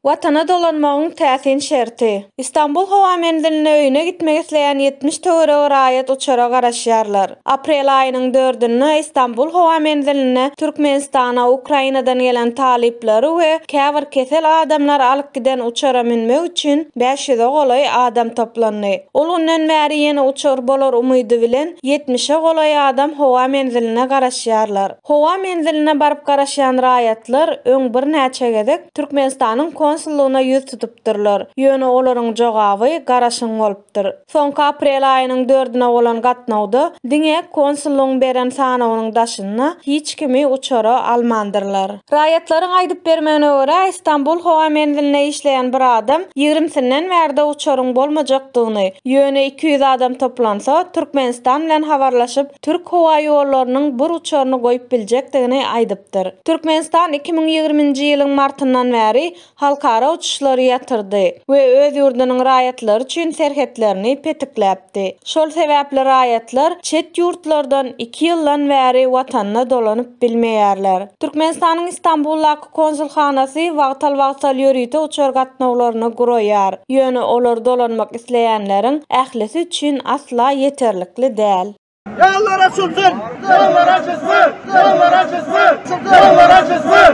Watana dolanmagyň täsin şerti. Istanbul howa menzilinde öýüne gitmek isleýän ýetmiş töweregi raýat uçara garaşýarlar. Aprel aýynyň dördünde Istanbul howa menzilinde Türkmenistana Ukrainadan gelen talyplary we käbir kesel adamlary alyp giden uçara münmek üçin bäş ýüze golaý adam toplandy. Ol günden bäri ýene uçar bolar umydy bilen ýetmişe golaý adam howa menziline garaşýarlar. Howa menziline baryp garaşýan raýatlar öň birnäçe gezek Türkmenistanyň konsullygyna ýüz tutupdyrlar, ýöne olaryň jogaby garaşyň bolupdyr. Soňky aprel aýynyň dördüne bolan gatnawda diňe konsullygyň beren sanawynyň daşynda hiç kimi uçara almandyrlar. Raýatlaryň aýdyp bermegine görä, Stambul howa menzilinde işleýän bir adam ýigrimisinden bärde uçaryň bolmajakdygyny, ýöne iki ýüz adam toplansa, Türkmenistan bilen habarlaşyp, Türk howa ýollarynyň bir uçaryny goýup biljekdigini aýdypdyr. Türkmenistan iki müň ýigriminji ýylyň martyndan bäri halkara uçuşlary ýatyrdy we öz ýurdunyň raýatlary üçin serhetlerini petikläpdi. Şol sebäpli raýatlar çet ýurtlardan iki ýyldan bäri watanyna dolanyp bilmeýärler. Türkmenistanyň Istanbuldaky Konsulhanasy wagtal-wagtal ýörite uçar gatnawlaryny guraýar, ýöne olar dolanmak isleýänleriň ählisi üçin asla ýeterlikli däl. Ýollar açylsyn! Ýollar açylsyn! Ýollar açylsyn! Ýollar açylsyn!